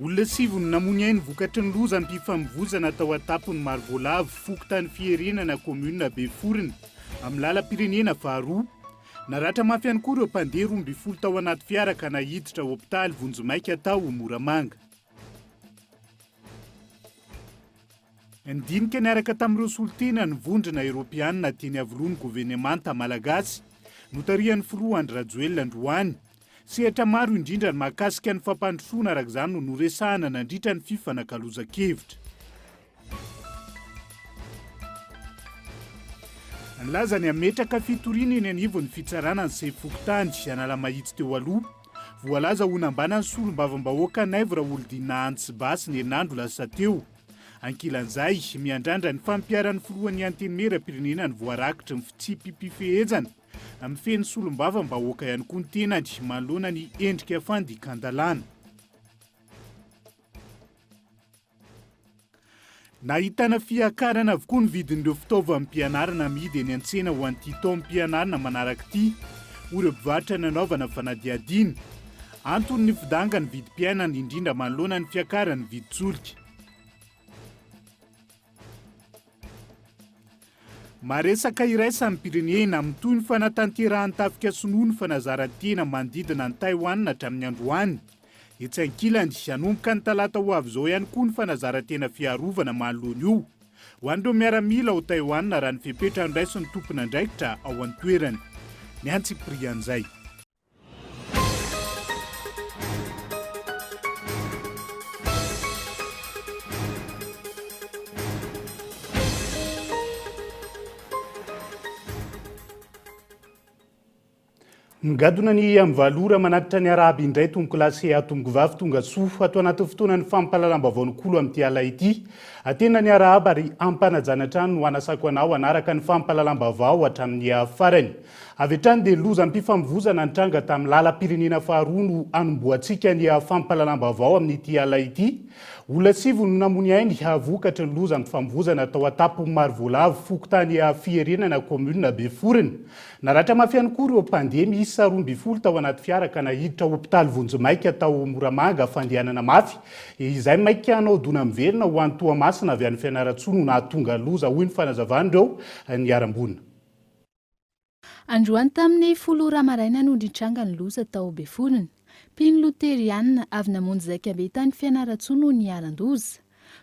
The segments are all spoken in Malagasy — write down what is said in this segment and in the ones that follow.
Olona sivy no namoy ny ainy vokatry ny lozam-pifamovoizana tao an-tampon'i Marovoalavo, fokontany Fiherenana, kaominina Beforona, amin'ny lalam-pirenena faharoa. Naratra mafy ihany koa ireo mpandeha roa ambin'ny folo tao anaty fiara ka naiditra hopitaly vonjimaika tao Moramanga. Nidinika niaraka tamin'ireo solontena ny vondrona eropeanina teny Iavoloha ny governemanta malagasy, notarihan'ny filoha Andry Rajoelina androany. Sehatra maro indrindra ny mahakasika ny fampandrosoana araka izany no noresahana nandritra ny fifanakalozan-kevitra. Nilaza ny hametraka fitoriana eny anivon'ny fitsarana ny sefo fokontany Analamahitsy teo aloha. Voalaza ho nambanan'ny solombavambahoaka Naivo Raholidina Ants Bah sy ny herinandro lasa teo. Ankilan'izay, miandrandra ny fampiharan'ny filohan'ny Antenimieram-pirenena ny voarakitry ny fitsipi-pifehezana. Mifehy solombavambahoaka ihany koa ny tenany manoloana ny endrika fandikan-dalàna. Nahitana fiakarana avokoa ny vidin'ireo fitaovam-pianarana amidy eny an-tsena ho an'ity taom-pianarana manaraka ity, hoy ireo mpivarotra nanaovana fanadihadiana. Antony ny fidangan'ny vidim-piainana indrindra manoloana ny fiakaran'ny vidin-tsolika. Maresaka iraisam-pirenena amin'ny toy ny fanatanterahan'ny tafika sinoa ny fanazaran-tena manodidina an'i Taiwan hatramin'ny androany. Etsy ankilany, hanomboka ny talata ho avy izao ihany koa ny fanazaran-tena fiarovana manoloana io ho an'ireo miaramila ao Taiwan raha ny fepetra noraisin'ny tompon'andraikitra ao an-toerana. Ny antsipirihan'izay. Nigadona ny amin'ny valo ora manatitra ny Arahaba indray tompoko lahy sy tompoko vavy tonga soa ato anatin'ny fotoanan'ny fampahalalam-baovao Nokolo amin'ity alina ity. Atena ny Arahaba ary ampanajana hatrany no hanasako anao hanaraka ny fampahalalam-baovao hatramin'ny farany. Avy hatrany dia lozam-pifamovoizana nitranga tamin'ny lalam-pirenena faharoa no hanombohantsika ny fampahalalam-baovao amin'ity alina ity. Olona sivy no namoy ainy vokatry ny lozam-pifamovoizana tao Antapimarovoalavo, fokontany Fiherenana, kaominina Beforona. Naratra mafy ihany koa ireo mpandeha miisa roa ambin'ny folo tao anaty fiara ka naiditra hopitaly vonjimaika tao Moramanga fandehanana mafy izay maika hanao dona miverina ho any Toamasina avy any Fianarantsoa no nahatonga loza, hoy ny fanazavan'ireo niharam-boina. Androany tamin'ny folo ora maraina no nitranga ny loza tao Befolona. Mpino loterianina avy namonjy zaikabe tany Fianarantsoa no niharan-doza.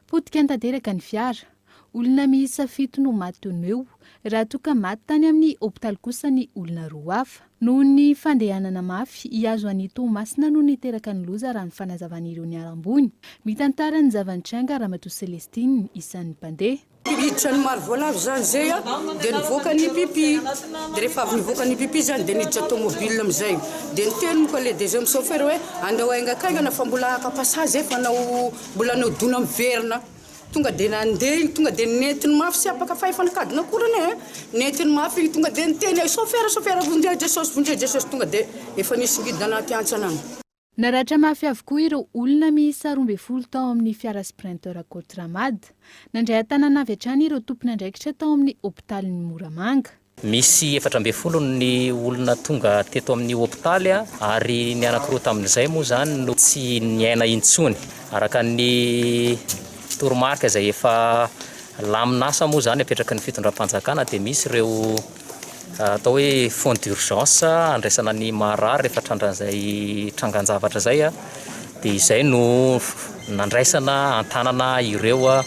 Potika tanteraka ny fiara. Olona miisa fito no maty teo no eo, raha toa ka maty tany amin'ny hopitaly kosa ny olona roa hafa. Noho ny fandehanana mafy hihazo an'i Toamasina no niteraka ny loza raha ny fanazavan'ireo niharam-boina. Mitantara ny zava-nitranga Ramatoa Celestine, isan'ny mpandeha. Hiditra ny maro voalavo izany izay a, dia nivoaka ny pipi, dia rehefa avy nivoaka ny pipi izany dia niditra tomobile amin'izay, dia niteny moa ka le deuxième chauffeur hoe andao haingakaingana fa mbola haka passage efa hanao mbola hanao dona miverina, tonga dia nandeha iny tonga dia nentiny mafy tsy apaka fahefan'kadina akory anie e, nentiny mafy iny tonga dia niteny hoe chauffeur chauffeur vonjeo Jesosy vonjeo Jesosy tonga dia efa nisy ngidina anaty hantsana any. Naratra mafy avokoa ireo olona miisa roa ambin'ny folo tao amin'ny fiara Sprinter Cotramad. Nandray an-tanana avy hatrany ireo tompon'andraikitra tao amin'ny hopitalin'i Moramanga. Misy efatra ambin'ny folo ny olona tonga teto amin'ny hopitaly ary ny anankiroa tamin'izay moa izany no tsy niaina intsony. Araka ny toromarika izay efa lamin'asa moa izany apetraky ny fitondram-panjakana dia misy ireo. atao hoe fonds d'urgence handraisana ny marary rehefa trandrahan'izay trangan-javatra izay dia izay no nandraisana an-tanana ireo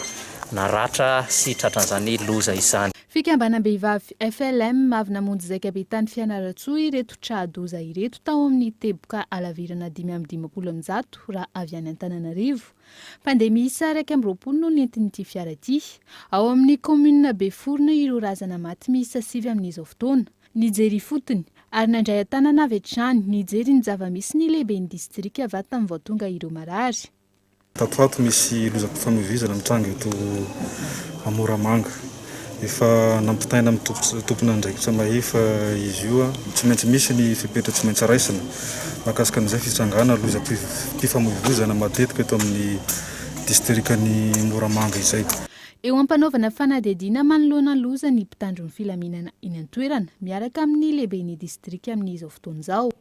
naratra sy tratran'izany loza izany. Fikambanam-behivavy FLM avy namonjy zaikabe tany Fianarantsoa ireto tra-doza ireto tao amin'ny teboka halavirana dimy amby dimampolo amin'ny zato raha avy any Antananarivo Mpandeha miisa iraika amby roapolo no nentin'ity fiara ity. Ao amin'ny kaominina Beforona ireo razana maty miisa sivy amin'izao fotoana. Nijery ifotony, ary nandray an-tanana avy hatrany, nijery ny zava-misy ny lehiben'ny distrika va tamin'ny vao tonga ireo marary. Tatoato misy lozam-pifamoivoizana mitranga eto Moramanga. Efa nampitaina amin'ny tomponandraikitra mahefa izy io. Tsy maintsy misy ny fepetra tsy maintsy raisina mahakasika an'izay fitsangana lozam-pifamoivoizana matetika eto amin'ny distrikan'i Moramanga izay. Eo am-panaovana fanadihadiana manoloana ny loza ny mpitandro ny filaminana eny an-toerana, miaraka amin'ny lehiben'ny distrika amin'izao fotoana izao.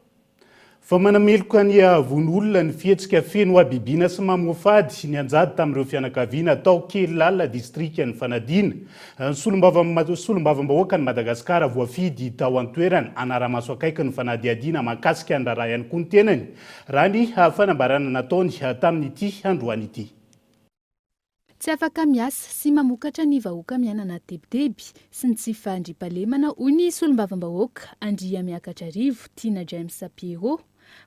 Fa manameloka ny haavon' olona ny fihetsika feno habibiana sy mamoafady nianjady tamin'ireo fianakaviana tao Kelal, distrikan' ny Fanadina. Solombavamb Solombavambahoakan'i Madagasikara voafidy tao an-toerana hanara-maso akaiky ny fanadihadiana mahakasika ny raharaha ihany koa ny tenany, raha ny fanambarana nataony tamin'ity androany ity. Tsy afaka miasa sy mamokatra ny vahoaka miaina anaty tebiteby sy ny tsy fandriampahalemana, hoy ny solombavambahoaka Andriamiakatrarivo, Tiana James Pierrot.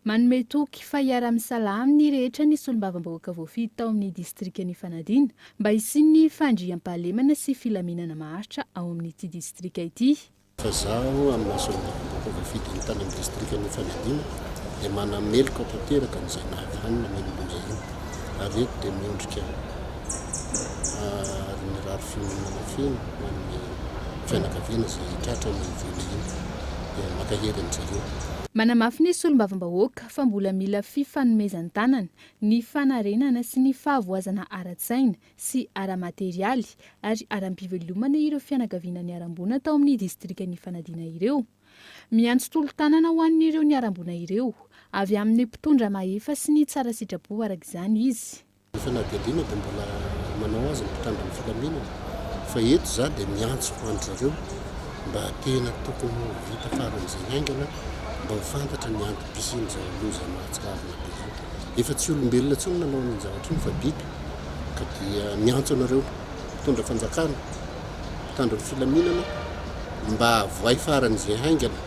Manome toky fa hiara-misalahy amin'ny rehetra ny solombavambahoaka voafidy tao amin'ny distrikan' Ifanadiana mba hisian'ny fandriampahalemana sy filaminana maharitra ao amin'ity distrika ity. Fa izaho amin'ny Assemblée vahoaka voafidy any tany amin'ny distrikan'i Antsahadinta dia manameloka tanteraka an'izay nahavanona Maimuna iny ary eto dia miondrika ary mirary fiononana feno ho an'ny fianakaviana izay tratra ny voina iny dia mankahery an'izareo. Manamafy ny Solombavambahoaka fa mbola mila fifanomezan-tanana ny fanarenana sy ny fahavoazana ara-tsaina sy ara-materialy ary aram-pivelomana ireo fianakaviana niharam-boina tao amin'ny distrikan'i Ifanadiana ireo. Miantso tolo-tanana ho an'ireo niharam-boina ireo avy amin'ny mpitondra mahefa sy ny tsara sitrapo araka izany izy. Ifanadialiana dia mbola manao azy ny mpitandro ny filaminana fa eto izaho dia miantso an-dry zareo mba tena tokony ho vita faran'izay haingana mba ho fantatra ny antom-pisian'izao loza mahatsiravina be izao. Efa tsy olombelona intsony nanao an'iny zavatra iny fa biby. ka dia miantso anareo mpitondra fanjakana, mpitandro ny filaminana mba avohay faran'izay haingana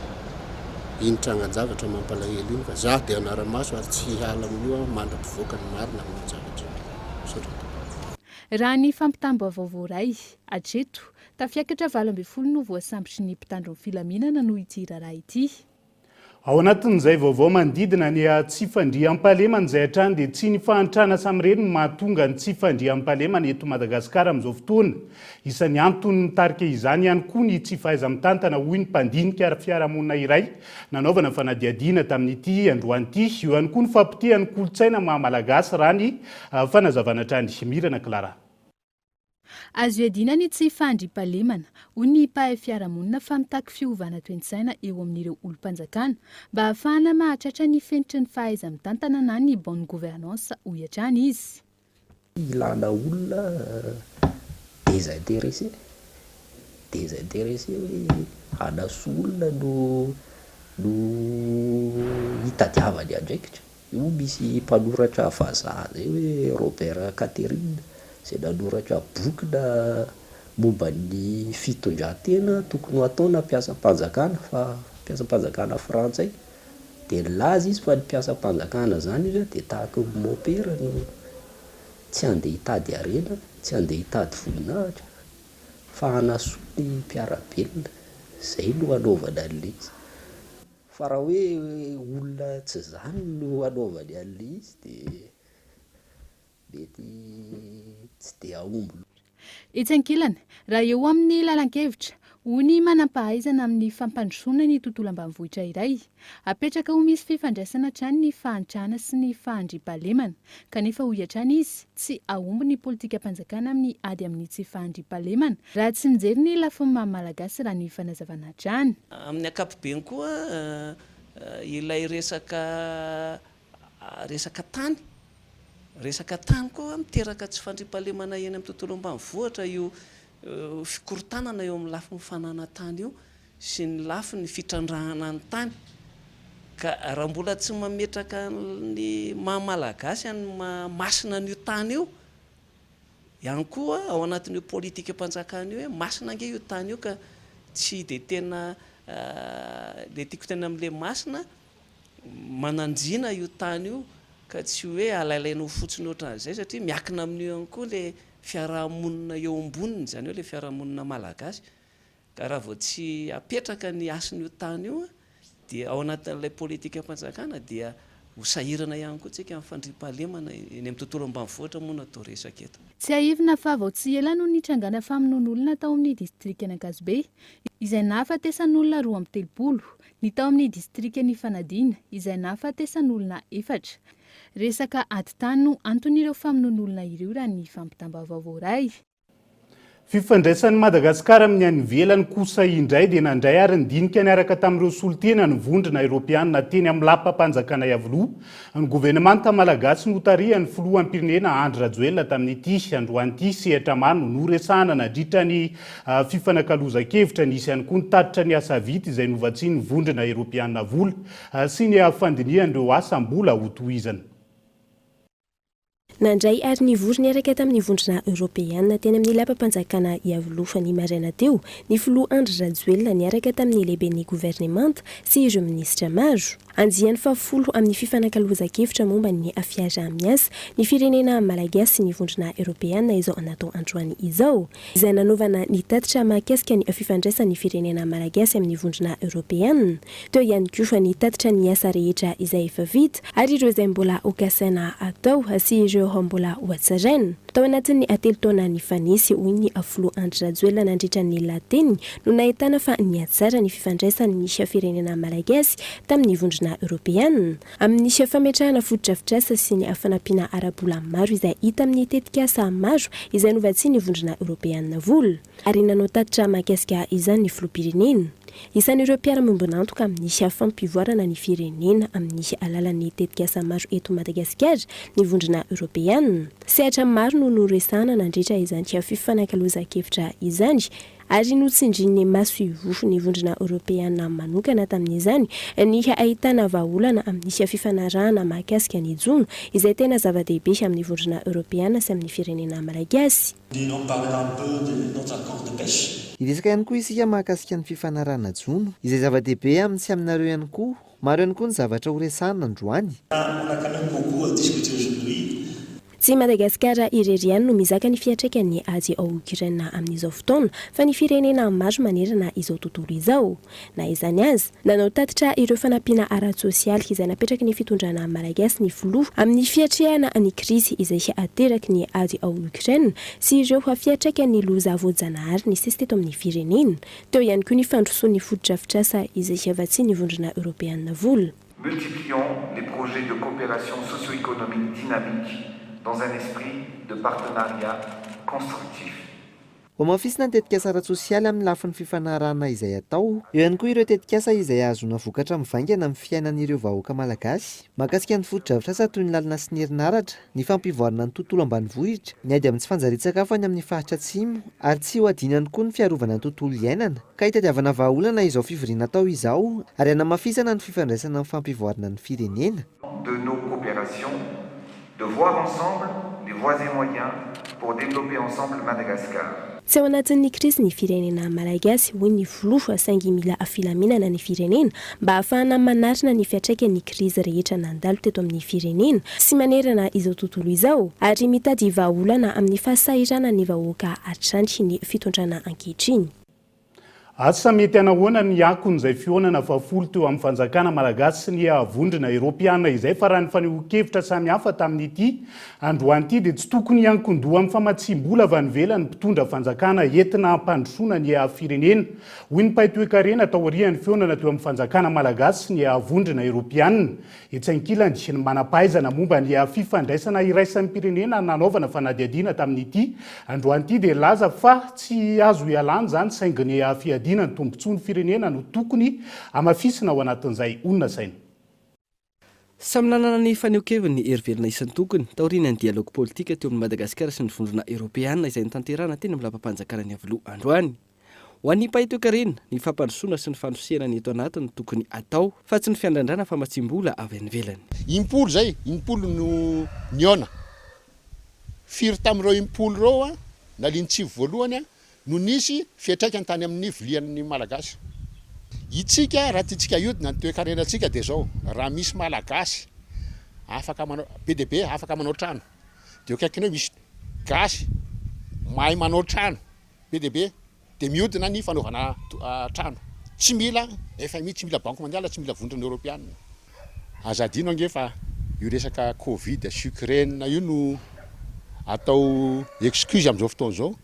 iny trangan-javatra mampalahelo iny fa za dia hanara-maso ary tsy hiala amin'io aho mandra-pivoaka ny marina amin'io zavatra io. Misaotra tompoko. Raha ny fampitam-baovao voaray hatreto, tafiakatra valo ambin'ny folo no voasambotry ny mpitandro ny filaminana noho ity raharaha ity. Ao anatin'izay vaovao manodidina ny tsy fandriampahalemana izay hatrany dia tsy ny fahantrana samirery no mahatonga ny tsy fandriampahalemana eto Madagasikara amin'izao fotoana. Isan'ny antony mitarika izany ihany koa ny tsy fahaiza-mitantana hoy ny mpandinika ara-piarahamonina iray nanaovana fanadihadiana tamin'ity androany ity. Eo ihany koa ny fahapotehan'ny kolontsaina maha-malagasy raha ny fanazavana hatrany Mirana Clara. Azo iadiana ny tsy fandriampahalemana, hoy ny mpahay fiarahamonina fa mitaky fiovana toe-tsaina eo amin'ireo olom-panjakana mba hahafahana mahatratra ny fenitry ny fahaiza-mitantana na ny bonne gouvernance, hoy hatrany izy. Ilana olona desinteressé, desinteressé hoe hanasoa olona no no hitadiavany andraikitra. Io misy mpanoratra vazaha izay hoe Robert Catherine izay nanoratra boky na momba ny fitondran-tena tokony ho ataona mpiasam-panjakana fa mpiasam-panjakana frantsay dia nilaza izy fa ny mpiasam-panjakana izany hoy izy dia tahaka ny mopera no tsy handeha hitady harena, tsy handeha hitady voninahitra fa hanasoa ny mpiara-belona, izay no hanaovana an'ilay izy. Fa raha hoe olona tsy izany no hanaovany an'ilay izy dia mety tsy dia hahomby loatra. Etsy ankilany, raha eo amin'ny lalan-kevitra, hoy ny manam-pahaizana amin'ny fampandrosoana ny tontolo ambanivohitra iray, apetraka ho misy fifandraisana hatrany ny fahantrana sy ny fahandriampahalemana, kanefa hoy hatrany izy, tsy hahomby ny politikam-panjakana amin'ny ady amin'ny tsy fahandriampahalemana Raha tsy mijery ny lafiny maha Malagasy raha ny fanazavana hatrany. Amin'ny ankapobeny koa ilay resaka resaka tany, resaka tany koa miteraka tsy fandriampahalemana eny amin'ny tontolo ambanivohitra io fikorontanana eo amin'ny lafiny fananan-tany io sy ny lafiny fitrandrahana ny tany ka raha mbola tsy mametraka ny maha Malagasy any maha masina an'io tany io ihany koa ao anatin'io politikam-panjakana io hoe masina ange io tany io ka tsy dia tena ilay tiako tena amin'ilay masina mananjina io tany io ka tsy hoe alailaiana ho fotsiny ohatran'izay satria miakina amin'io ihany koa ilay fiaraha-monina eo amboniny, izany hoe ilay fiaraha-monina malagasy. Ka raha vao tsy apetraka ny hasin'io tany io dia ao anatin'ilay politikam-panjakana dia ho sahirana ihany koa tsika amin'ny fandriampahalemana eny amin'ny tontolo ambanivohitra moa no atao resaka eto. Tsiahivina fa vao tsy ela no nitrangana famonoan'olona tao amin'ny distrikan'Ankazobe, izay nahafatesan'olona roa amby telopolo, ny tao amin'ny distrikan'i Fanadina, izay nahafatesan'olona efatra. Resaka ady tany no anton'ireo famonoan'olona ireo raha ny fampitam-baovao voaray. Fifandraisan'i Madagasikara amin'ny any ivelany kosa indray dia nandray ary nidinika niaraka tamin'ireo solontena ny vondrona eropeanina teny amin'ny lapam-panjakana Iavoloha ny governemanta malagasy notarihan'ny filoham-pirenena Andry Rajoelina tamin'ity androany ity. Sehatra maro no noresahana nandritra ny ah, fifanakalozan-kevitra. Nisy ihany koa ny tatitra ny asa vita izay novatsian'ny vondrona eropeanina vola ah, sy ny ah, fandinihan'ireo asa mbola hotohizana. Nandray ary nivory niaraka tamin'ny vondrona eoropeana teny amin'ny lapam-panjakana Iavoloha ny maraina teo ny filoha Andry Rajoelina niaraka tamin'ny lehiben'ny governemanta sy ireo minisitra maro. Andiany fahafolo amin'ny fifanakalozan-kevitra momba ny fiaraha-miasa ny firenena malagasy sy ny vondrona eoropeana izao anatao androany izao. izay nanaovana ny tatitra mahakasika ny fifandraisan'ny firenena malagasy amin'ny vondrona eoropeanina, teo ihany koa ny tatitra ny asa rehetra izay efa vita ary ireo izay mbola ho kasaina atao sy ireo mbola ho hatsaraina tao anatin'ny telo taona nifanesy, hoy ny filoha Andry Rajoelina nandritra ny lahateniny no nahitana fa nihatsara ny fifandraisan'ny firenena malagasy tamin'ny vondrona eoropeanina. Amin'ny fametrahana fotodrafitrasa sy ny fanampiana ara-bola maro izay hita amin'ny tetikasa maro izay novatsian'ny Vondrona Eoropeanina vola ary nanao tatitra mahakasika izany ny Filoham-pirenena. Isan'ireo mpiara-miombon'antoka amin'ny fampivoarana ny firenena amin'ny alalan'ny tetikasa maro eto Madagasikara ny Vondrona Eoropeanina. Sehatra maro no noresahana nandritra izany fifanakalozan-kevitra izany. ary notsindrin'ny maso ivofon'ny Vondrona Eoropeana manokana tamin'izany ny ahitana vahaolana amin'ny fifanarahana mahakasika ny jono, izay tena zava-dehibe amin'ny Vondrona Eoropeana sy amin'ny firenena miraiky azy. Hiresaka ihany koa isika mahakasika ny fifanarahana jono, izay zava-dehibe amin'ny sy aminareo ihany koa. Maro ihany koa ny zavatra horesahana androany. Tsy Madagasikara irery ihany no mizaka ny fiantraikan'ny ady ao Ukraine amin'izao fotoana fa ny firenena maro manerana izao tontolo izao. Na izany aza, nanao tatitra ireo fanampiana ara-tsosialy izay napetraky ny fitondrana malagasy ny filoha amin'ny fiatrehana ny krizy izay ateraky ny ady ao Ukraine sy ireo fiantraikan'ny loza voajanahary nisesy teto amin'ny firenena Teo ihany koa ny fandrosoan'ny fotodrafitrasa izay hiavatsian'ny Vondrona Eoropeana vola. Multiplions les projets de coopération socio-économique dynamique dans un esprit de partenariat constructif. Hohamafisina ny tetikasa ara-tsosialy amin'ny lafiny fifanarahana izay atao. Eo ihany koa ireo tetikasa izay ahazoana vokatra mivaingana amin'ny fiainan'ireo vahoaka malagasy. Mahakasika ny fotodrafitrasa toy ny lalana sy ny herinaratra. ny fampivoarana ny tontolo ambanivohitra, ny ady amin'ny tsy fanjarian-tsakafo any amin'ny faritra atsimo ary tsy ho adino ihany koa ny fiarovana ny tontolo iainana ka hitadiavana vahaolana izao fivoriana atao izao ary hanamafisana ny fifandraisana amin'ny fampivoarana ny firenena. de nos coopérations, de voir ensemble les voies et moyens pour développer ensemble Madagascar. Tsy ao anatin'ny krizy ny firenena Malagasy, hoy ny filoha, saingy mila filaminana ny firenena mba hahafahana manarina ny fiantraikan'ny krizy rehetra nandalo teto amin'ny firenena sy manerana izao tontolo izao ary mitady vahaolana amin'ny fahasahiranan'ny vahoaka hatrany ny fitondrana ankehitriny. Asa mety hanahoana ny akon'izay fihaonana fahafolo teo amin'ny fanjakana malagasy sy ny vondrona eropeana izay fa raha ny fanehoan-kevitra samihafa tamin'ity androany ity dia tsy tokony hiankin-doha amin'ny famatsiam-bola avy any ivelany mpitondra fanjakana entina hampandrosoana ny firenena hoy ny mpaitoekarena taorian'ny fihaonana teo amin'ny fanjakana malagasy sy ny vondrona eropeana Etsy ankilany, ny manam-pahaizana momba ny fifandraisana iraisampirenena nanaovana fanadihadiana tamin'ity androany ity dia nilaza fa tsy azo ialana izany saingy ny fiadiana ny tombontsoan'ny firenena no tokony hamafisina ao anatin'izay honasaina. Samy nanana ny fanehoan-keviny ny hery velona isan-tokony, taorian'ny dialogy politika teo amin'i Madagasikara sy ny Vondrona Eoropeana izay notanterahana teny amin'ny Lapam-panjakana Ny Iavoloha androany. Ho an'ny mpahay toekarena, ny fampandrosoana sy ny fandrosehana ny eto anaty no tokony atao fa tsy ny fiandrandràna famatsiam-bola avy any ivelany. Impolo izay, impolo no nihaona. Firy tamin'ireo impolo ireo nalian'ny tsivy voalohany no nisy fiantraikany tany amin'ny vilian'ny Malagasy? Itsika raha tiantsika hiodina ny toekarenantsika dia izao, raha misy Malagasy afaka manao, be dia be afaka manao trano, dia eo akaikinao misy Gasy mahay manao trano, Be dia be dia mihodina ny fanaovana trano. Tsy mila fmi, tsy mila banky mondiale, tsy mila vondrona eoropeana. Aza adino ange fa io resaka covid sy Ukraine io no atao excuse amin'izao fotoana izao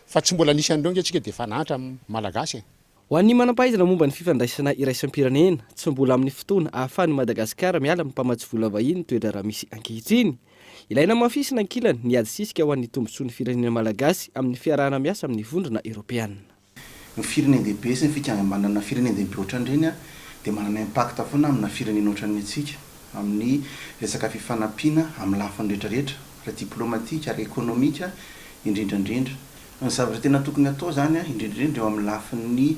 fa tsy mbola nisy an'ireo ange tsika dia efa nahantra ny malagasy e! Ho an'ny manam-pahaizana momba ny fifandraisana iraisam-pirenena, tsy mbola amin'ny fotoana ahafahan'i Madagasikara miala amin'ny mpamatsy vola vahiny ny toe-draharaha misy ankehitriny. Ilaina hamafisina ankilany ny ady sisika ho an'ny tombontsoan'ny firenena malagasy amin'ny fiarahana miasa amin'ny Vondrona Eoropeana. Ny firenen-dehibe sy ny fikambanana firenen-dehibe ohatran'ireny dia manana impact foana amina firenena ohatran'ny antsika amin'ny resaka fifanampiana amin'ny lafiny rehetrarehetra, ara-diplomatika, ara-ekonomika indrindrandrindra. Ny zavatra tena tokony atao izany, indrindrindrindra eo amin'ny lafin'ny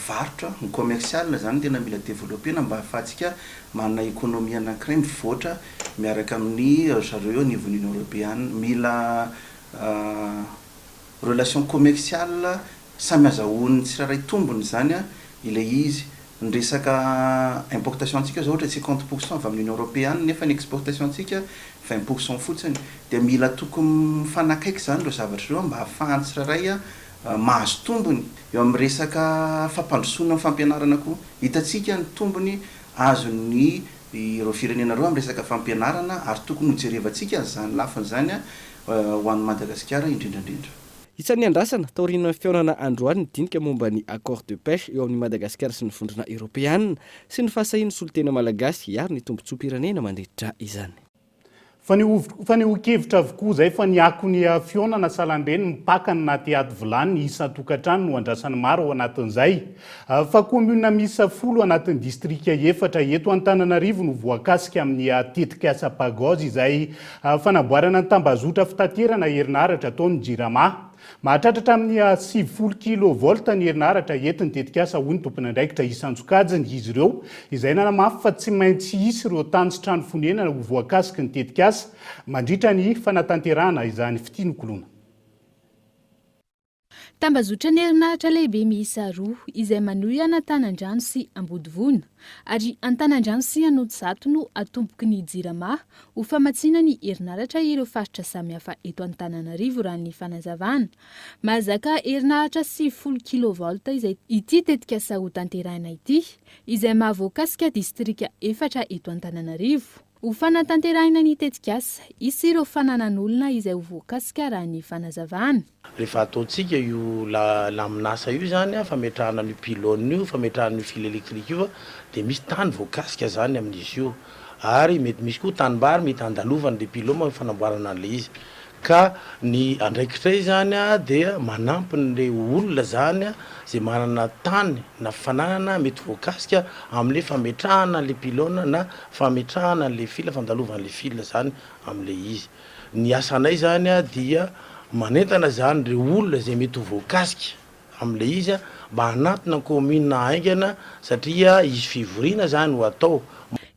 varotra, ny commercial izany no tena mila developpena mba ahafahantsika manana économie anankiray mivoatra miaraka amin'ny ry zareo eo anivon'ny Union Europeana. Mila relation commercial Samy azahoan'ny tsirairay tombony izany ilay izy. Ny resaka importation-tsika izao ohatra cinquante pour cent avy amin'ny Union Européenne nefa ny exportation-tsika vingt pour cent fotsiny. Dia mila tokony mifanakaiky izany ireo zavatra ireo mba hahafahan'ny tsirairay mahazo tombony. Eo amin'ny resaka fampandrosoana ny fampianarana koa. Hitantsika ny tombony azon'ny ireo firenena ireo amin'ny resaka fampianarana ary tokony hojerevantsika an'izany lafiny izany ho an'i Madagasikara indrindra indrindra. Isan'ny niandrasana taorian'ny fihaonana androany ny dinika momba ny Accord de pêche eo amin'i Madagasikara sy ny Vondrona Eoropeanina sy ny fahasahian'ny solontena malagasy hiaro ny tombontsoam-pirenena mandritra izany. Fanehoan-kevitra avokoa izay fa ny akon'ny fihaonana salan-dreny mipaka ny naha teaty vilany isan-tokantrano no andrasan'ny maro ao anatin'izay fa kaominina miisa folo anatin'ny distrika efatra eto Antananarivo no voakasika amin'ny tetikasa Pagos izay Fanamboarana ny tambazotra fitaterana herinaratra ataon'ny Jirama. Mahatratra hatramin'ny sivifolo kilovolta ny herinaratra entin'ny tetikasa, hoy ny tomponandraikitra isan-tsokajiny, izy ireo, izay nanamafy fa tsy maintsy hisy ireo tany sy trano fonenana ho voakasiky ny tetikasa, mandritra ny fanatanterahana izany fitinokolona. Tambazotran'ny herinaratra lehibe miisa roa izay manohy an'Antanandrano sy Ambodivona ary Antanandrano sy Anosizato no atomboky ny Jirama ho famatsiana ny herinaratra ireo faritra samihafa eto Antananarivo raha ny fanazavana. Mahazaka herinaratra sivifolo kilovolta izay ity tetikasa hotanterahina ity izay maha voakasika distrika efatra eto Antananarivo. Ho fanatanterahina ny tetikasa, hisy ireo fananan'olona izay ho voakasika raha ny fanazavana. Rehefa ataontsika io la laminasa io izany a, fametrahana an'io pylone io, fametrahana an'io fil électrique io a, dia misy tany voakasika izany amin'izy io. Ary mety misy koa tanimbary mety handalovany ilay pylome amin'ny fanamboarana an'ilay izy. Ka ny andraikitray izany dia manampy an'ilay olona izany izay manana tany na fananana mety voakasika amin'ilay fametrahana an'ilay pylone na fametrahana an'ilay fil, fandalovana an'ilay fil izany amin'ilay izy. Ny asanay izany dia manentana izany ireo olona izay mety ho voakasika amin'ilay izy mba hanatona ny kaominina haingana satria hisy fivoriana izany ho atao.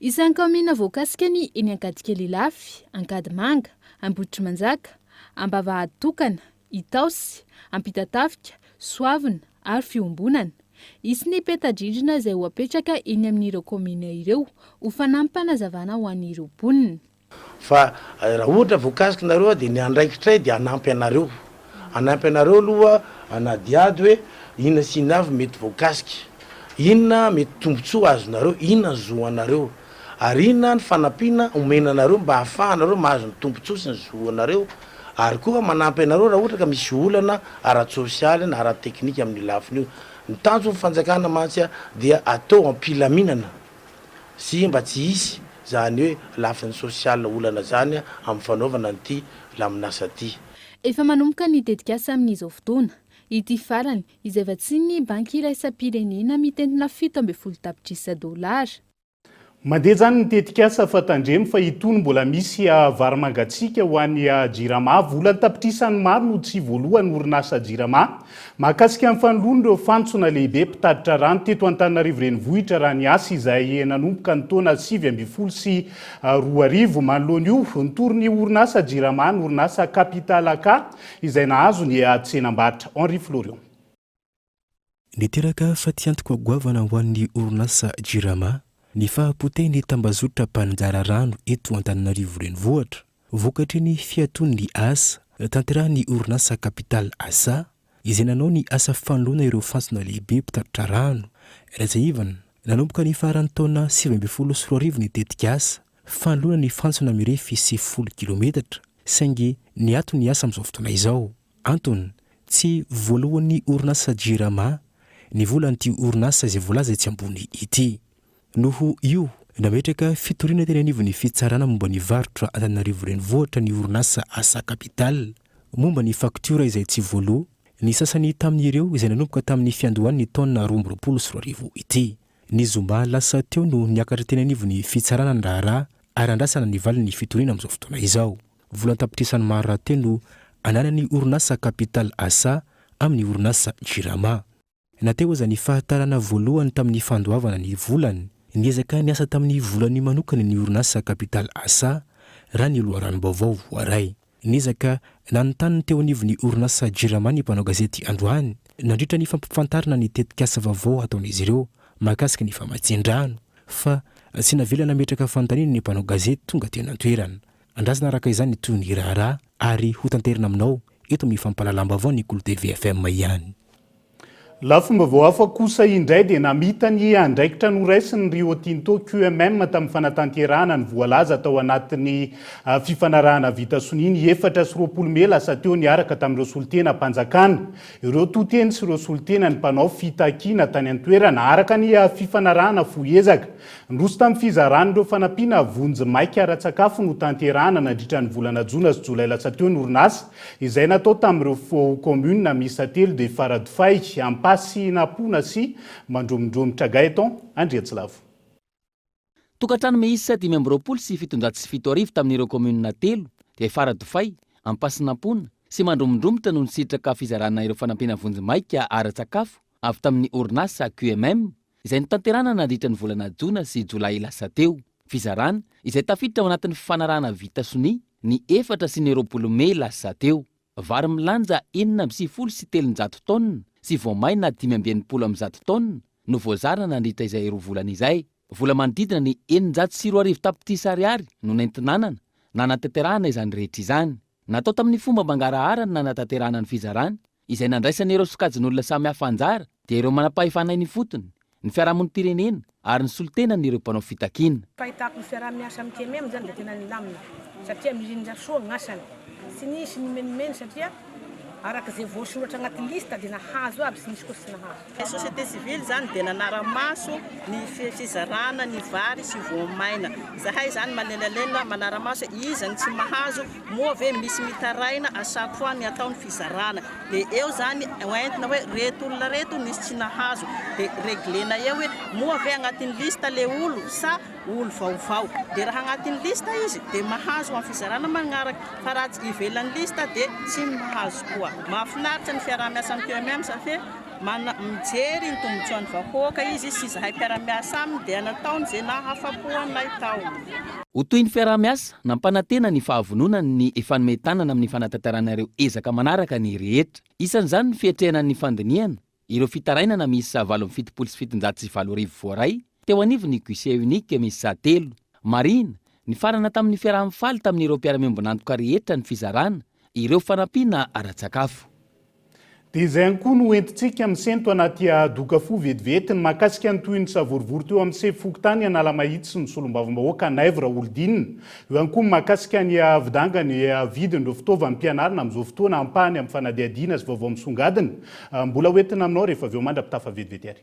Isan'ny kaominina voakasika ny eny Ankadikely Ilafy, Ankadimanga, Ambohitrimanjaka, Ambavahady Tokana, Itaosy, Ampitatafika, Soavina ary Fiombonana. Hisy ny peta-drindrina izay ho apetraka eny amin'ireo kaominina ireo ho fanampim-panazavana ho an'ireo mponina. Fa raha ohatra voakasiky nareo aho dia ny andraikitray dia hanampy anareo. Hanampy anareo aloha hanadihady hoe inona sy inona avy mety voakasika, inona mety tombontsoa azonareo, inona ny zo anareo, ary inona ny fanampiana omena anareo mba hahafahanareo mahazo ny tombontsoa sy ny zo anareo, ary koa manampy anareo raha ohatra ka misy olana ara-tsosialy na ara-teknika amin'io lafiny io. Ny tanjon'ny fanjakana mantsy dia atao am-pilaminana sy mba tsy hisy izany hoe lafiny sosialy olana izany amin'ny fanaovana an'ity laminasa ity. Efa manomboka ny tetikasa amin'izao fotoana. Ity farany, izay vatsian'ny Banky Iraisam-pirenena mitentina fito ambin'ny folo tapitrisa dolara. Mandeha izany ny tetikasa fa tandremo fa itony mbola misy vary mangatsiaka ho an'ny Jirama. Vola an-tapitrisany maro no tsy voaloan'ny orinasa Jirama. Mahakasika ny fanoloan'ireo fantsona lehibe mpitatitra rano teto Antananarivo Renivohitra raha ny asa izay nanomboka ny taona sivy ambin'ny folo sy Roa arivo. Manoloana io, nitory ny orinasa Jirama ny orinasa Capital AK izay nahazo ny tsenam-barotra. Henri Florion. Niteraka fatiantoka goavana ho an'ny orinasa Jirama ny fahapotehin'ny tambazotra mpanongara rano eto Antananarivo Renivohitra. Vokatry ny fiatoan'ny asa tanterahin'ny orinasa Capital Asa, izay nanao ny asa fanoloana ireo fantsona lehibe mpitatitra rano, RSIVAN, nanomboka ny faran'ny taona sivy ambin'ny folo sy roa arivo ny tetikasa fanoloana ny fantsona mirefy sivifolo kilometatra, saingy niato ny asa amin'izao fotoana izao. Antony, tsy voaloan'ny orinasa Jirama ny volan'ity orinasa izay voalaza etsy ambony ity. Noho io, nametraka fitoriana teny anivon'ny Fitsarana momba ny Varotra Antananarivo Renivohitra ny orinasa Asa Capital momba ny faktiora izay tsy voaloa ny sasany tamin'ireo izay nanomboka tamin'ny fiandohan'ny taona roa amby roapolo sy roa arivo ity. Ny zoma lasa teo no niakatra teny anivon'ny Fitsarana ny raharaha ary nandrasana ny valin'ny fitoriana amin'izao fotoana izao. Vola an-tapitrisany maro rahateo no ananan'ny orinasa Capital Asa amin'ny orinasa Jirama. Na teo aza ny fahatarana voalohany tamin'ny fandoavana ny volany, niezaka niasa tamin'ny volany manokana ny orinasa Capital Asa, raha ny loharanom-baovao voaray. Niezaka nanontany ny teo anivon'ny orinasa Jirama ny mpanao gazety androany, nandritra ny fampifantarana ny tetikasa vaovao hataon'izy ireo mahakasika ny famatsian-drano, fa tsy navela nametraka fanontaniana ny mpanao gazety tonga teny an-toerana. Andrasana araka izany toy ny raharaha ary hotanterina aminao eto amin'ny fampahalalam-baovao ny Kolo TV FM ihany. Lafim-baovao hafa kosa indray dia namita ny andraikitra noraisin'ny Rio Tinto QMM tamin'ny fanatanterahana ny voalaza tao anatin'ny fifanarahana vita sonia ny efatra sy roapolo mey lasa teo niaraka tamin'ireo solontenam-panjakana, ireo to-teny sy ireo solontenan'ny mpanao fitakiana tany an-toerana. Araka ny fifanarahana fohy ezaka niroso tamin'ny fizaran'ireo fanampiana vonjimaika ara-tsakafo notanterahana nandritra ny volana jona sy jolay lasa teo ny orinasa, Izay natao tamin'ireo foao kaominina miisa telo dia Faradofay, Ampasihinampoana sy Mandromondromy, Tragaeton Andriantsilavo. Tokantrano miisa dimy amby roapolo sy fitonjato sy fito arivo tamin'ireo kaominina telo dia Faradofay, Ampasihinampoana sy Mandromondromotra no nisitraka fizarana ireo fanampiana vonjimaika ara-tsakafo avy tamin'ny orinasa QMM izay notanterahina nandritra ny volana jona sy jolay lasa teo. Fizarana izay tafiditra ao anatin'ny fifanarahana vita sonia ny efatra sy ny roapolo mey lasa teo. Vary milanja enina amby sivifolo sy telonjato taonina sy voamaina dimy amby enimpolo amin'ny zato taonina no voazarina nandritra izay roa volana izay. Vola manodidina ny eninjato sy roa arivo tapitrisa ariary no nentinanana nanatanterahana izany rehetra izany. Natao tamin'ny fomba mangarahara ny nanatanterahana ny fizarana izay nandraisana ireo sokajin'olona samihafa anjara dia ireo manam-pahefana eny ifotony, ny fiarahamonim-pirenena ary ny solontenan'ireo mpanao fitakiana. Fahitako ny fiaraha-miasa amin'ny KMM izany dia tena nilamina satria mirindra soa ny asany. Tsy nisy nimenomenona satria araka izay voasoratra anaty liste dia nahazo aby, tsy nisy koa tsy nahazo. Ny société civile izany dia nanara-maso ny fizarana ny vary sy voamaina. Izahay izany manelanelana manara-maso hoe iza no tsy mahazo, moa ve misy mitaraina à chaque fois ny atao ny fizarana. Dia eo izany hoentina hoe ireto olona ireto nisy tsy nahazo, dia reglena eo hoe moa ve anatin'ny liste le olo sa olo vaovao. Dia raha anatin'ny liste izy dia mahazo amin'ny fizarana manaraka, fa raha ivelan'ny liste dia tsy mahazo koa. Mahafinaritra ny fiaraha-miasa amin'ny QMM satria. Mana, mijery ny tombotsoan'ny vahoaka izy sy izahay mpiara-miasa aminy dia nataony izay nahafapo anay tao. Ho toy ny fiaraha-miasa, nampanantena ny fahavononany ny hifanome tanana amin'ny fanatanterahana ireo ezaka manaraka ny rehetra. Isan'izany ny fiatrehana ny fandinihana ireo fitarainana miisa valo amby fitopolo sy fitonjato sy valo arivo voaray, teo anivon'ny Guichet Unique miisa telo. Marihina, nifarana tamin'ny fiaraha-mifaly tamin'ireo mpiara-miombon'antoka rehetra ny fizarana ireo fanampiana ara-tsakafo. Dia izay ihany koa no ho entintsika misento anaty doka fohy vetivety ny mahakasika ny tohin'ny savorovoro teo amin'ny sefo fokontany Analamahitsy sy ny solombavambahoaka Naivo Raholidinina. Eo ihany koa ny mahakasika ny vidanga ny vidin'ireo fitaovam-pianarana amin'izao fotoana ampahany amin'ny fanadihadiana sy vaovao misongadina. Mbola ho entina aminao rehefa avy eo mandra-pitafa vetivety ary.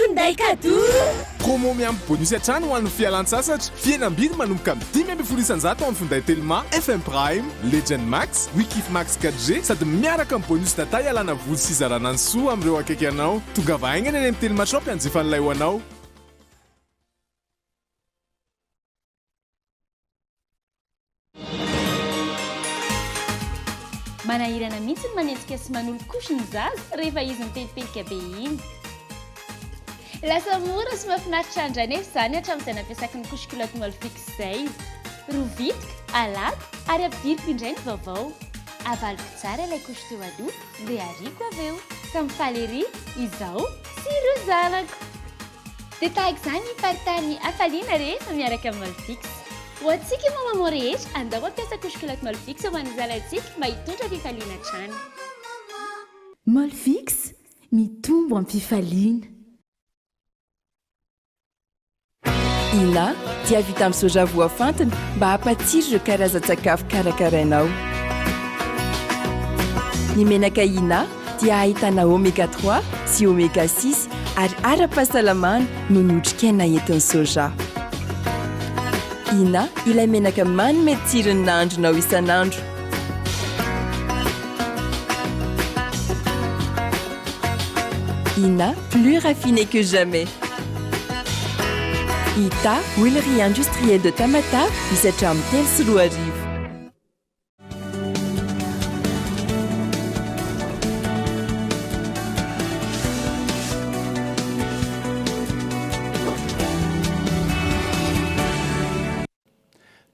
Finday cadeau! Promo miampy bonus hatrany ho an'ny fialan-tsasatra. Fihenam-bidy manomboka amin'ny dimy ambin'ny folo isan-jato amin'ny finday Telma, FM Prime, Legend Max, Wikif Max 4G sady miaraka amin'ny bonus data ialana voly sy izarana ny soa amin'ireo akaiky anao. Tongava haingana eny amin'ny Telma Shop hianjifa an'ilay ho anao. Manahirana mihitsy ny manenjika sy manolo-kosy ny zaza rehefa izy mipelipelika be iny. Lasa mora sy mahafinaritra andry anefa izany hatramin'izay nampiasako ny couche culotte Molfix izay. Rovitiko, alàko ary ampidiriko indray ny vaovao. Avaliko tsara ilay couche teo aloha dia ariako avy eo. Samy faly ery izaho sy ireo zanako. Dia tahaka izany faritany hafaliana rehefa miaraka amin'ny Malfix. Ho antsika maman maman rehetra, andao mampiasa couche culotte Malfix ho an'ny zanantsika mba hitondra fifaliana hatrany. Malfix, mitombo am-pifaliana. Ina dia vita amin'ny soja voafantina mba hampatsiro ireo karazan-tsakafo karakarainao. Ny menaka Ina. dia ahitana oméga trois sy oméga six ary ara-pahasalamana noho ny otrikaina entin'ny soja. Ina ilay menaka manome tsiro ny nahandronao isan'andro. Ina plus raffiné que jamais. Ita, huilerie industrielle de Tamatave, misy hatramin'ny telo sy roa arivo.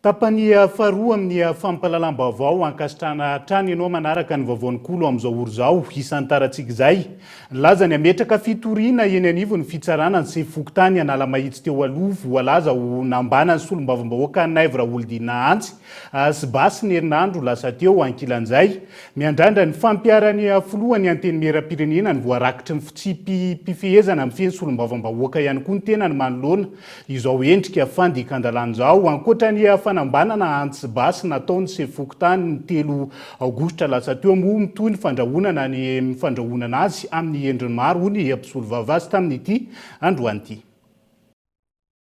Tapany faharoa amin'ny fampahalalam-baovao ankasitrahana hatrany ianao manaraka ny vaovaon'ny Kolo amin'izao ora izao isan-tarantsika izay. Lazany hametraka fitoriana eny anivon'ny fitsarana ny sefo fokontany Analamahitsy teo aloha voalaza ho nambanan'ny solombavambahoaka Naivo Raholdina Antsy As basy ny herinandro lasa teo ankilan'izay. Miandrandra ny fampiharan'ny filohan'ny Antenimierampirenena ny voarakitry ny fitsipi-pifehezana mifehy ny solombavambahoaka ihany koa ny tenany manoloana izao endrika fandikan-dalàna izao. Ankoatra ny fanambanana ans basy natao ny sefo fokontany ny telo aogositra lasa teo moa mitohy ny fandrahonana ny fandrahonana azy amin'ny endriny maro hoy ny mpisolovava azy tamin'ity androany ity.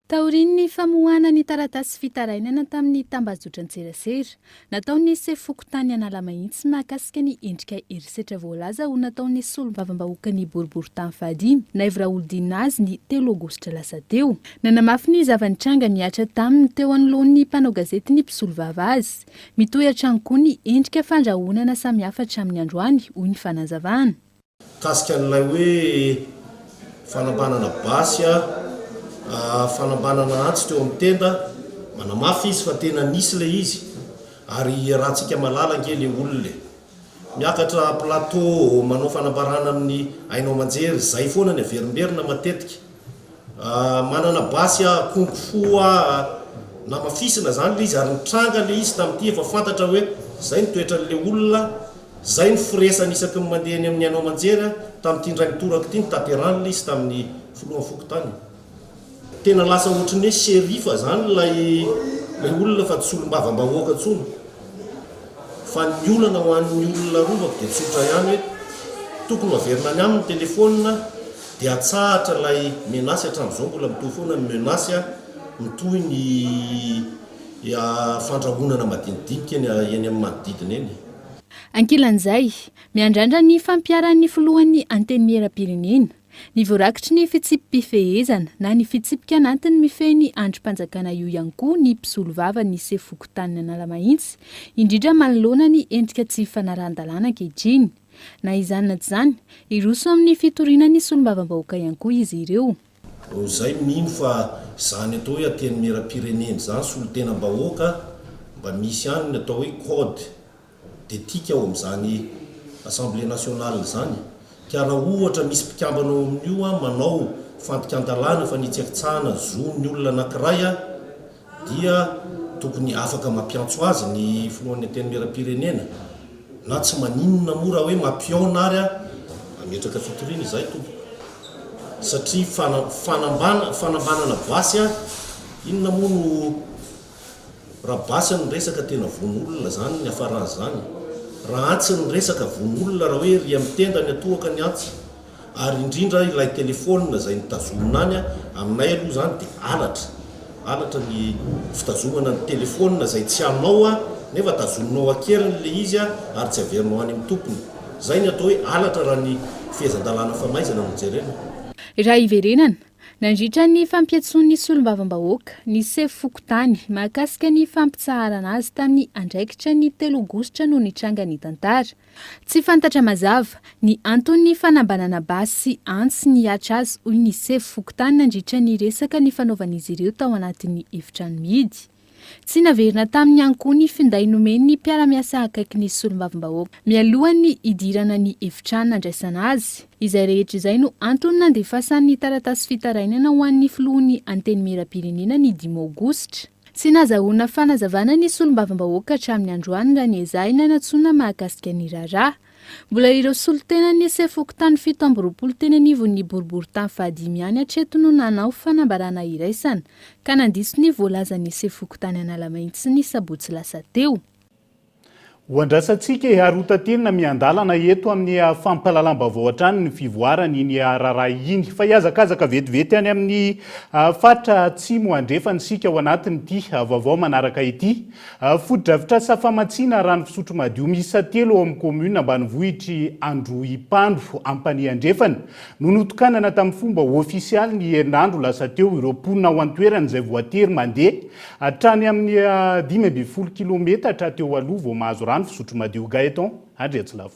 Taorian'ny famoahana ny taratasy fitarainana tamin'ny tambajotran-tserasera nataon'ny sefo fokontany Analamahitsy mahakasika ny endrika herisetra voalaza ho nataon'ny solombavambahoakan'ny boriborintany fahadimy Naivo Raholidinina azy ny telo aogositra lasa teo. Nanamafy ny zava-nitranga mihatra taminy teo anoloan'ny mpanao gazety ny mpisolovava azy. Mitohy hatrany koa ny endrika fandrahonana samihafa hatramin'ny androany, hoy ny fanazavana. Mikasika an'ilay hoe fanambanana basy, fanambanana antsy teo amin'ny tenda, manamafy izy fa tena nisy ilay izy ary iarahantsika malala ange ilay olona e! Miakatra plateau manao fanambarana amin'ny haino aman-jery, izay foana ny averimberina matetika. Manana basy akondro fo aho namafisina izany ilay izy ary nitranga ilay izy tamin'ity efa fantatra hoe izay ny toetran'ilay olona, izay ny firesany isaky ny mandeha eny amin'ny haino aman-jery aho tamin'ity indray mitoraka ity, nitaterany ilay izy tamin'ny filohan'ny fokontany. Tena lasa ohatry ny hoe sheriff izany ilay ilay olona fa tsy solombavambahoaka intsony. Fa ny olana ho an'ny olona arovako dia tsotra ihany hoe tokony ho averina any aminy ny telefaonina, Dia atsahatra ilay menace hatramin'izao mbola mitohy foana ny menace a, mitohy ny fandrahonana madinidinika eny amin'ny manodidina eny. Ankilan'izay, miandrandra ny fampiharan'ny filohan'ny Antenimierampirenena ny voarakitry ny fitsipi-pifehezana na ny fitsipika anatiny mifehy ny andrim-panjakana io ihany koa ny mpisolovava ny sefo fokontanin'Analamahitsy indrindra manoloana ny endrika tsy fanarahan-dalàna ankehitriny Na izany na tsy izany, hiroso amin'ny fitoriana ny solombavambahoaka ihany koa izy ireo. Noho izay mino fa izany atao hoe antenimieram-pirenena izany, solontenam-bahoaka, mba misy ihany ny atao hoe code d'ethique ao amin'izany Assemblée nationale izany ka raha ohatra misy mpikambana ao amin'io manao fandikan-dalàna fanitsakitsahana zon'ny olona anankiray dia tokony afaka mampiantso azy ny filohan'ny antenimieram-pirenena na tsy maninona moa raha hoe mampihaona ary aho hametraka fitoriana izahay tompoko satria fana fanambana fanambanana basy aho inona moa no raha basy ny resaka tena vono olona izany ny hafaran'izany raha antsy ny resaka vono olona raha hoe ry amin'ny tenda ny atohoka ny antsy Ary indrindra ilay telephone izay nitazomina any a, aminay aloha izany dia halatra, halatra ny fitazomana ny telephone izay tsy anao a, nefa tazominao an-keriny ilay izy a, ary tsy averinao any amin'ny tompony. Izay ny atao hoe halatra raha ny fehezan-dalàna famaizana no jerena. Raha hiverenana, nandritra ny fampiantsoan'ny solombavambahoaka, ny sefo fokontany, mahakasika ny fampitsaharana azy tamin'ny andraikitra ny telo aogositra no nitranga ny tantara. Tsy fantatra mazava ny anton'ny fanambanana basy sy antsy nihatra azy hoy ny sefo fokontany nandritra ny resaka nifanaovan'izy ireo tao anatin'ny efitrano mihidy. Tsy naverina taminy ihany koa ny finday nomen'ny mpiara-miasa akaiky ny solombavambahoaka mialohan'ny hidirana ny efitrano nandraisana azy. Izay rehetra izay no antony nandefasany ny taratasy fitarainana ho an'ny filohan'ny Antenimierampirenena ny dimy aogositra. Tsy nazahoana fanazavana ny solombavambahoaka hatramin'ny androany raha ny ezahy nanatsoina mahakasika ny raharaha. Mbola ireo solontenan'ny sefom-pokontany fito amby roapolo teny anivon'ny boriborintany fahadimy ihany hatreto no nanao fanambarana iraisana ka nandiso ny voalazan'ny sefom-pokontany Analamainty ny sabotsy lasa teo. Ho andrasantsika e, ary ho taterina miandalana eto amin'ny fampahalalam-baovao hatrany ny fivoaran' iny raharaha iny. Fa hihazakazaka vetivety any amin'ny faritra Atsimo Andrefana isika ao anatin'ity vaovao manaraka ity. Fotodrafitrasa famatsiana rano fisotro madio miisa telo ao amin'ny kaominina ambanivohitr'i Androhipando Ampanihy Andrefana no notokanana tamin'ny fomba ofisialy ny herinandro lasa teo ireo mponina ao an-toerana izay voatery mandeha Hatrany amin'ny dimy ambin'ny folo kilometatra teo aloha vao mahazo rano fisotro madio Gaëtan Andriatsilavo.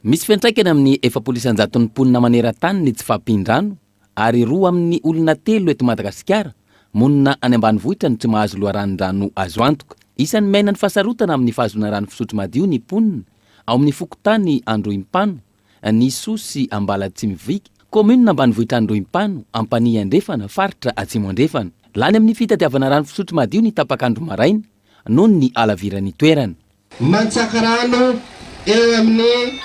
Misy fiantraikany amin'ny efapolo isan-jaton'ny mponina maneran-tany ny tsy fahampian-drano ary roa amin'ny olona telo eto Madagasikara monina any ambanivohitra no tsy mahazo loharanon-drano azo antoka. Isan'ny miaina ny fahasarotana amin'ny fahazoana rano fisotro madio ny mponina ao amin'ny fokontany Androhimpano, An'Issoux sy Ambalatsimivik, kaominina ambanivohitr'Androhimpano, Ampanihy Andrefana, faritra Atsimo Andrefana. Lany amin'ny fitadiavana rano fisotro madio ny tapak'andro maraina noho ny halaviran'ny toerana. Mantsaka rano eo amin'ny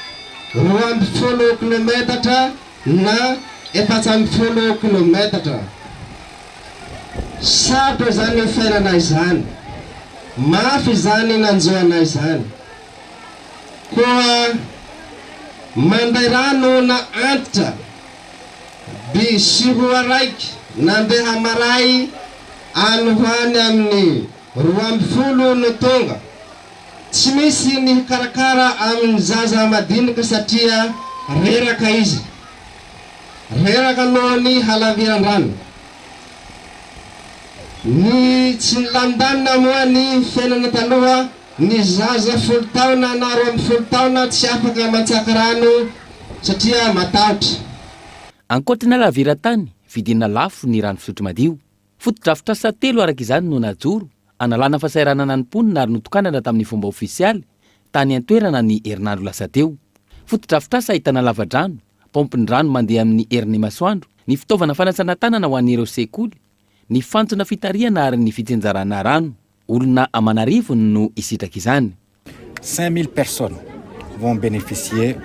roa ambin'ny folo kilometatra na efatra ambin'ny folo kilometatra. Sarotra izany nifainana izany. Mafy izany nanjo anay izany. Koa mandray ra noana antitra by sy roa raiky nandeha maray any ho any amin'ny roa amby folo no tonga. Tsy misy ny hikarakara amin'ny zaza madinika satria reraka izy. Reraka noho ny halaviran-drano. Ny tsy nilamindanina moa ny fiainana taloha. Ny zaza folo taona na roa amby folo taona tsy afaka mantsaka rano satria matahotra. Ankoatran'ny laviran-tany vidiana lafo ny rano fisotro madio, fotodrafitrasa telo araka izany no najoro hanalana fahasahiranana ny mponina ary notokanana tamin'ny fomba ofisialy tany an-toerana ny herinandro lasa teo. Fotodrafitrasa ahitana lavadrano, paompin-drano mandeha amin'ny herin'ny masoandro, ny fitaovana fanasana tanana ho an'ireo sekoly, ny fantsona fitarihana ary ny fitsinjarana rano. Olona aman'arivony no hisitraka izany. Cinq mille personnes vont beneficier.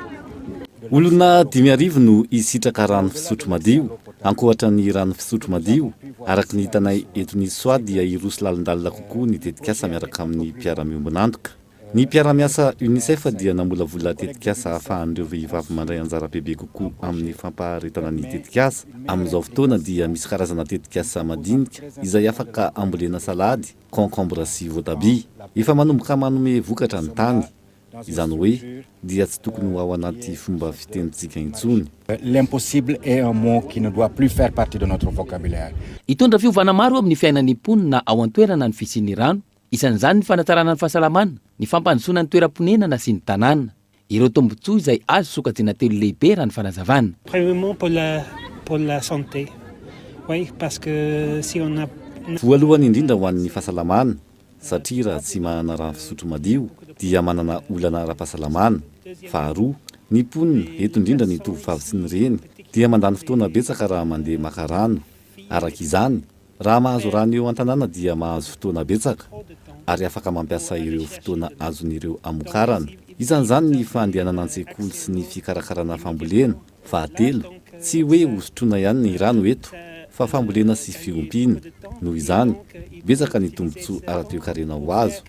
Olona dimy arivo no hisitraka rano fisotro madio. Ankoatra ny rano fisotro madio, araka ny hitanay eto Nice Soa dia hiroso lalindalina kokoa ny tetikasa miaraka amin'ny mpiara-miombon'antoka. Ny mpiara-miasa Unicef dia namolavola tetikasa ahafahan'ireo vehivavy mandray anjara bebe kokoa amin'ny fampaharetana ny tetikasa. Amin'izao fotoana dia misy karazana tetikasa madinika izay afaka ambolena salady, concombre sy voatabia. Efa manomboka manome vokatra ny tany. Izany hoe dia tsy tokony ho ao anaty fomba fitenintsika intsony. L'impossible est un mot qui ne doit plus faire partie de notre vocabulaire. Hitondra fiovana maro eo amin'ny fiainan'ny mponina ao an-toerana ny fisian'ny rano, Isan'izany ny fanatsarana ny fahasalamana, ny fampandrosoana ny toeram-ponenana sy ny tanàna. Ireo tombontsoa izay azo sokajina telo lehibe raha ny fanazavana. Premièrement pour la pour la santé oui parce que si on a Voalohany indrindra ho an'ny fahasalamana satria raha tsy manana rano fisotro madio dia manana olana ara-pahasalamana. Faharoa, ny mponina, eto indrindra ny tovovavy sy ny reny, dia mandany fotoana betsaka raha mandeha maka rano. Araka izany, Raha mahazo rano eo an-tanàna dia mahazo fotoana betsaka ary afaka mampiasa ireo fotoana azon'ireo hamokarana. Isan'izany ny fandehanana an-tsekoly sy ny fikarakarana fambolena. Fahatelo, tsy hoe hosotroina ihany ny rano eto fa fambolena sy fiompiana. Noho izany, betsaka ny tombontsoa ara-toekarena ho azo.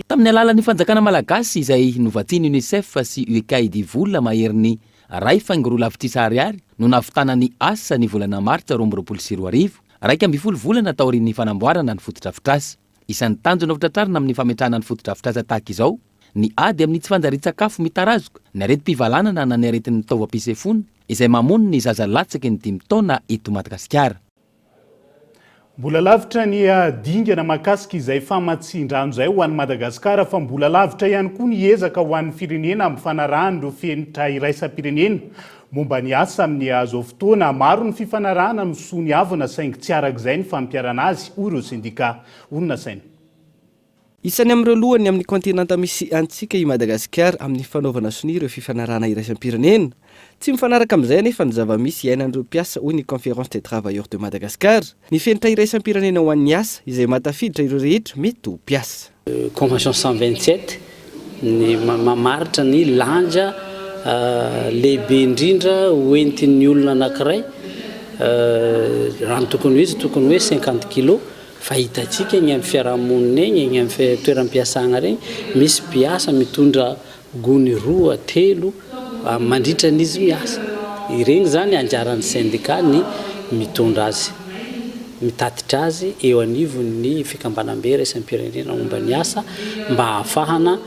Tamin'ny alalan'ny fanjakana malagasy izay novatsian'ny UNICEF sy UECAID vola maherin'ny Iray faingo roa lavitrisa ariary no nahavitana ny asa ny volana martsa roa amby roapolo sy roa arivo, iraika ambin'ny folo volana taorian'ny fanamboarana ny fotodrafitrasa. Isan'ny tanjona hotratrarina amin'ny fametrahana ny fotodrafitrasa tahaka izao ny ady amin'ny tsy fanjarian-tsakafo mitarazoka, ny aretim-pivalanana na ny aretin'ny taovam-pisefoana izay mamono ny zaza latsaky ny dimy taona eto Madagasikara. Mbola lavitra ny dingana mahakasika izay famatsian-drano izay ho an'i Madagasikara fa mbola lavitra ihany koa ny ezaka ho an'ny firenena amin'ny fanarahan'ireo fenitra iraisam-pirenena momba ny asa amin'ny hazo fotoana. Maro ny fifanarahana no soa ny havana saingy tsy arak'izay ny fampiharana azy, hoy ireo sendika. Hoy ny nasaina. Isany amin'ireo lohany amin'ny kaontinanta misy antsika i Madagasikara amin'ny fanaovana sonia ireo fifanarahana iraisam-pirenena. Tsy mifanaraka amin'izay anefa ny zava-misy iainan'ireo mpiasa hoy ny Conférence des Travailleurs de Madagascar. Ny fenitra iraisam-pirenena ho an'ny asa izay maha tafiditra ireo rehetra mety ho mpiasa. Convention cent vingt sept ny mamaritra ny lanja lehibe indrindra ho entin'ny olona anankiray raha ny tokony ho izy tokony hoe cinquante kilos. Fa hitantsika egny amin'ny fiarahamonina egny, egny amin'ny toeram-piasagna regny, misy mpiasa mitondra gony roa, telo mandritra ny izy miasa. Iregny izany anjaran'ny sendika ny mitondra azy, mitatitra azy eo anivon'ny fikambanam-be iraisam-pirenena momba ny asa mba hahafahana.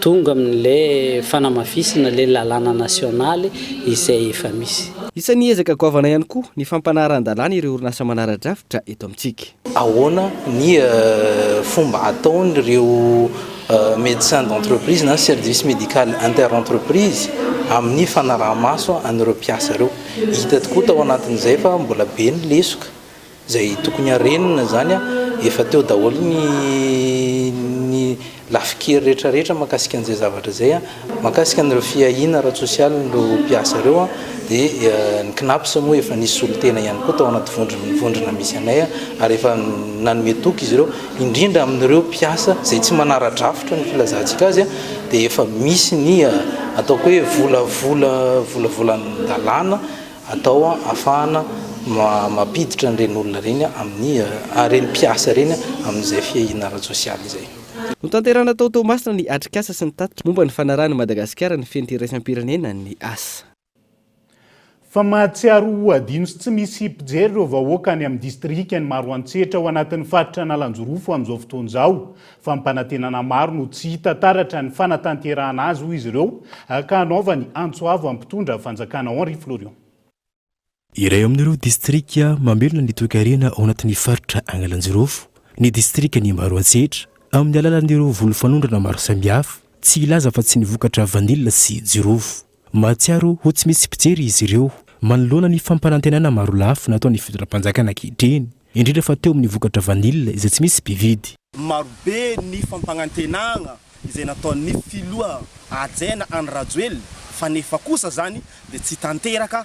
Tonga amin' le fanamafisana le lalàna nasionaly izay efa misy. Isan'ny ezaka goavana ihany koa ny fampanarahan-dalàna ireo orinasa manara-drafitra eto amintsika. Ahoana ny fomba ataon'ireo médecins d'entreprise na service médical inter-entreprise amin'ny fanaraha-maso an'ireo mpiasa ireo? Hita tokoa tao anatin'izay fa mbola be ny lesoka. Izay tokony harenina izany efa teo daholo ny ny lafin-kery rehetra rehetra mahakasika an'izay zavatra izay. Mahakasika an'ireo fiahiana ara-tsosialy ireo mpiasa ireo dia ny Cnaps moa efa nisy solontena ihany koa tao anaty vondrona vondrona misy anay ary efa nanome toky izy ireo indrindra amin'ireo mpiasa izay tsy manara-drafitra ny filazantsika azy dia efa misy ny ataoko hoe vola vola vola volan-dalàna atao ahafahana mampiditra an'ireny olona ireny amin'ny ireny mpiasa ireny amin'izay fiahiana ara-tsosialy izay. Notanterahina tao Toamasina ny atrikasa sy ny tatitra momba ny fanarahan'i Madagasikara ny fenitra iraisam-pirenena, ny asa. Fa mahatsiaro ho adino sy tsy misy mpijery ireo vahoaka any amin'ny distrikan'i Maroantsetra ao anatin'ny faritra Analanjorofo amin'izao fotoana izao. Fampanantenana maro no tsy hita taratra ny fanatanterahana azy, hoy izy ireo, ka hanaovany antso avo amin'ny mpitondra fanjakana Henri Florion. Iray amin'ireo distrika mamelona ny toekarena ao anatin'ny faritra Angalaljirofo ny distrikan'i Maroantsetra, amin'ny alalan'ireo volo fanondrana maro samihafa, tsy hilaza afa-tsy ny vokatra vanila sy jirofo. Mahatsiaro ho tsy misy mpijery izy ireo manoloana ny fampanantenana marolafy nataon'ny fitondram-panjakana ankehitriny, indrindra fa teo amin'ny vokatra vanille izay tsy misy mpividy. Marobe ny fampanantenana izay nataon'ny filoha hajaina Andry Rajoelina fa nefa kosa izany dia tsy tanteraka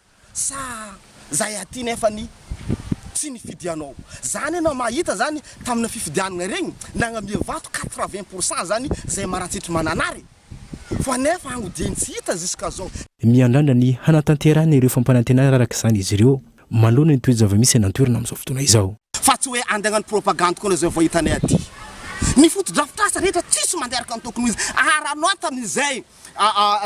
Sa zay aty nefany tsy nifidy anao zany enao mahita zany tamina fifidianana regny nagnamia vato quatre vingt pour cent zany zay marantsitry manana re fa nefa agny dieny tsy hita jusqu'à zao. Miandrandra ny hanatanterahana ireo fampanantenana araka izany izy ireo manoloana ny toe-java-misy any an-toerana amin'izao fotoana izao. Fa tsy hoe andegnano propagandy koa izay vao hitanay aty. Ny fotodrafitrasa rehetra tsisy mandeha araka ny tokony ho izy ary anao tamin'izay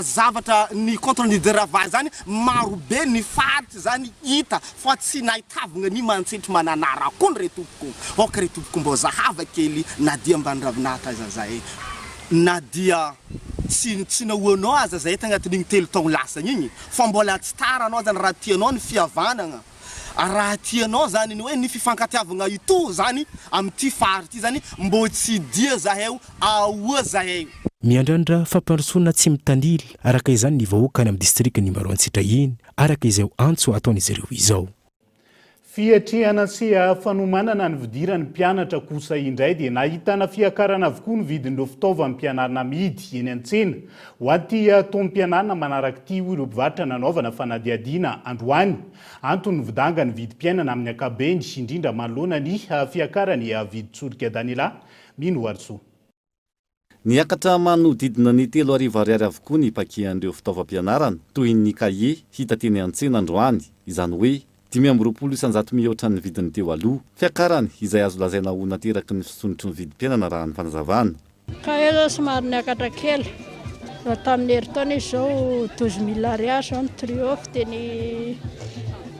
zavatra ny contre ny Deravan zany maro be ny faritra zany hita fa tsy nahitavgna ny Mantsetry Mananara koa re tompoko ok re tompoko mbô zahava kely na dia ambany ravinahitra aza zahay na dia tsy tsy nahoanao aza zahay tagnatin'igny telo taogno lasagny igny fa mbôla tsy tara anao zany raha tianao ny fihavanagna ary raha tianao zany ny hoe ny fifankatiavagna itò zany amity fary ty zany mbô tsy dia zahay o aoa zahay o. Miandrandra fampandrosoana tsy mitanila araka izany ny vahoaka any amin'ny distrikan'i Maroantsetra iny, araka izao antso ataon'izy ireo izao. Fiatrehana seha fanomanana ny fidiran'ny mpianatra kosa indray dia nahitana fiakarana avokoa ny vidin'ireo fitaovam-pianarana amidy eny an-tsena Ho aty taom-pianana manaraka ity hoy ireo mpivarotra nanaovana fanadihadiana androany. Anton'ny vidanga ny vidim-piainana amin'ny ankapobeny, indrindra manoloana ny fiakaran'ny vidin-tsolika Daniela Minoarisoa. Niakatra manodidina ny telo arivo ariary avokoa ny pakian'ireo fitaovam-pianarana, toy ny kahie, hita teny an-tsena androany, izany hoe Dimy amby roapolo isan-jato mihoatra ny vidin'ny teo aloha. Fiakarany, izay azo lazaina ho nateraky ny fisondrotry ny vidim-piainana raha ny fanazavana. Ka efa somary niakatra kely. Raha tamin'ny herintaona izy izao douze mille ariary, izao ny triomphe dia ny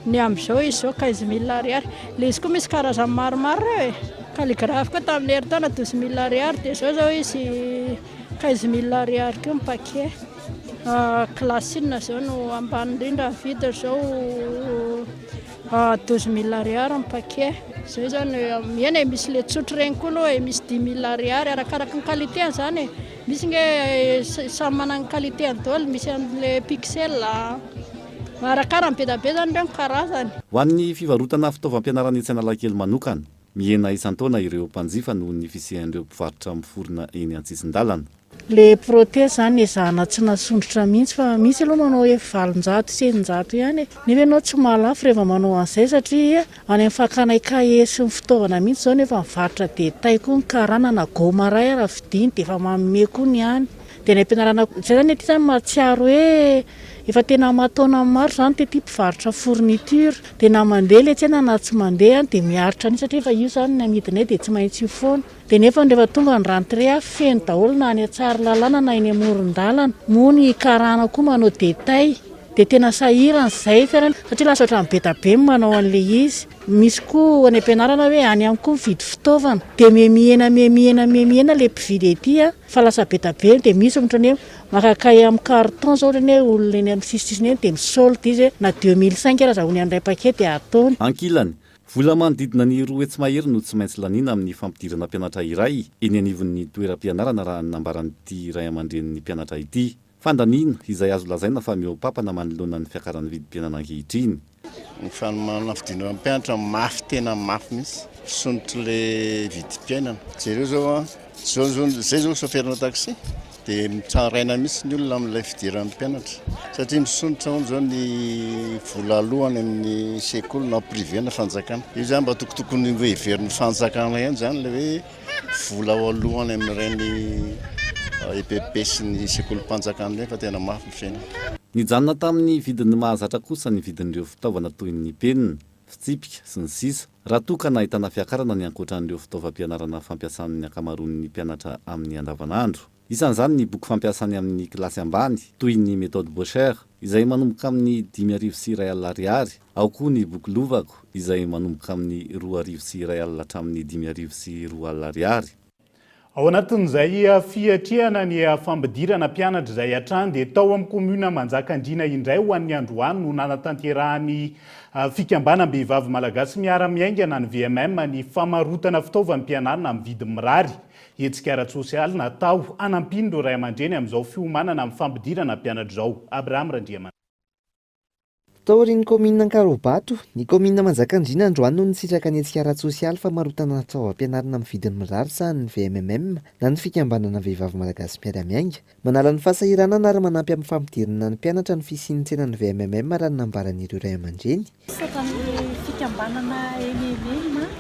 ny amin'izao izy izao quinze mille ariary. Ilay izy koa misy karazany maromaro ireo e. Calligraphe koa tamin'ny herintaona douze mille ariary dia izao izao izy Treize mille ariary koa ny paquet. Classe inona zao no ambany indrindra ny vidiny zao? Douze mille ariary ny paquet. Zay zany eny e, misy le tsotra reny koa aloha e, misy dix mille ariary arakaraky ny qualité-ny zany e, misy nge samy manana ny qualité-ny daholo, misy anle pixel a, arakara ny be da be zany reo ny karazany. Ho an'ny fivarotana fitaovam-pianarana etsy Analakely manokana, Mihena isan-taona ireo mpanjifa noho ny fisian'ireo mpivarotra miforona eny an-tsisin-dalana. Ilay prothèse izany ezahana tsy nasondrotra mihitsy fa misy aloha manao hoe valonjato sy eninjato ihany e! Nefa ianao tsy mahalafo rehefa manao an'izay satria any amin'ny fakana cahier sy ny fitaovana mihitsy izao no efa mivarotra détail koa ny karana na gomme à rails ara vidiana dia efa manome koa ny any. Dia ny ampianarana izay izany ety izany mahatsiaro hoe efa tena aman-taonany maro izany dia ity mpivarotra fourniture dia na mandeha ilay tsena na tsy mandeha dia miaritra an'io satria efa io izany ny amidinay dia tsy maintsy io foana dia nefa rehefa tonga ny rentrée ah feno daholo na any Tsaralalana na eny amoron-dalana moa ny karana koa manao détail dia tena sahirana izay satria lasa ohatran'ny be dia be ny manao an'ilay izy misy koa any ampianarana hoe any ihany koa mividy fitaovana dia miha mihena miha mihena miha mihena ilay mpividy ety ah Fa lasa be da be de misy ohatra hoe maka cahier am carton zao ohatra hoe olona eny am sisisisiny eny de misolde izy hoe na deux mille cinq ary aza ony any iray paquet de ataony. Ankilany, vola manodidina ny roa hetsy mahery no tsy maintsy laniana amin'ny fampidirana mpianatra iray eny anivon'ny toeram-pianarana raha ny nambaran'ity ray aman-drenin'ny mpianatra ity. Fandaniana izay azo lazaina fa mihoa-papana manoloana ny fiakaran'ny vidim-piainana ankehitriny. Ny fanomana fidinana mpianatra mafy tena mafy mihitsy fisondrotry le vidim-piainana. Jereo zao a, zao zao zay zao chauffeur-na taxi de mitraraina mihitsy ny olona amin'ilay fidiran'ny mpianatra satria misondrotra hono zao ny vola alohany amin'ny sekoly na privé na fanjakana. Io zany mba tokotokony ho heverin'ny fanjakana ihany zany le hoe. vola ao alohany amin'ireny EPP sy ny sekolim-panjakana ireny fa tena mafy ny fiainana. Nijanona tamin'ny vidin'ny mahazatra kosa ny vidin'ireo fitaovana toy ny penina, fitsipika, sy ny sisa Raha toa ka nahitana fiakarana ny ankoatran'ireo fitaovam-pianarana fampiasan'ny ankamaroan'ny mpianatra amin'ny andavanandro. Isan'izany ny boky fampiasany amin'ny kilasy ambany, toy ny Méthode Bosher, izay manomboka amin'ny dimy arivo sy iray alina ariary, Ao koa ny boky Lovako izay manomboka amin'ny roa arivo sy iray alina hatramin'ny dimy arivo sy roa alina ariary. Ao anatin'izay fiatrehana ny fampidirana mpianatra izay hatrany dia tao amin'ny Commune Manjakandriana indray ho an'ny androany no nanatanterahan'ny Fikambanam-behivavy Malagasy Miara-miaingana, ny VMM, ny famarotana fitaovam-pianarana amin'ny vidiny mirary. Hetsika ara-tsosialy natao hanampian'ireo ray aman-dreny amin'izao fiomanana amin'ny fampidirana mpianatra izao. Abraham Randriamanana. Mpitory ny kaominina Ankaraobato, ny kaominina Manjakandriana androany no nisitraka ny hetsika ara-tsosialy famarotana fitaovam-pianarana amin'ny vidiny mirary sahanin'ny VMMM na ny Fikambanana Vehivavy Malagasy Mpiara-miainga. Manala ny fahasahiranana ary manampy amin'ny fampidirana ny mpianatra ny fisian'ny tsenan'ny VMMM raha ny nambaran'ireo ray aman-dreny. Sata amin'ny Fikambanana MMM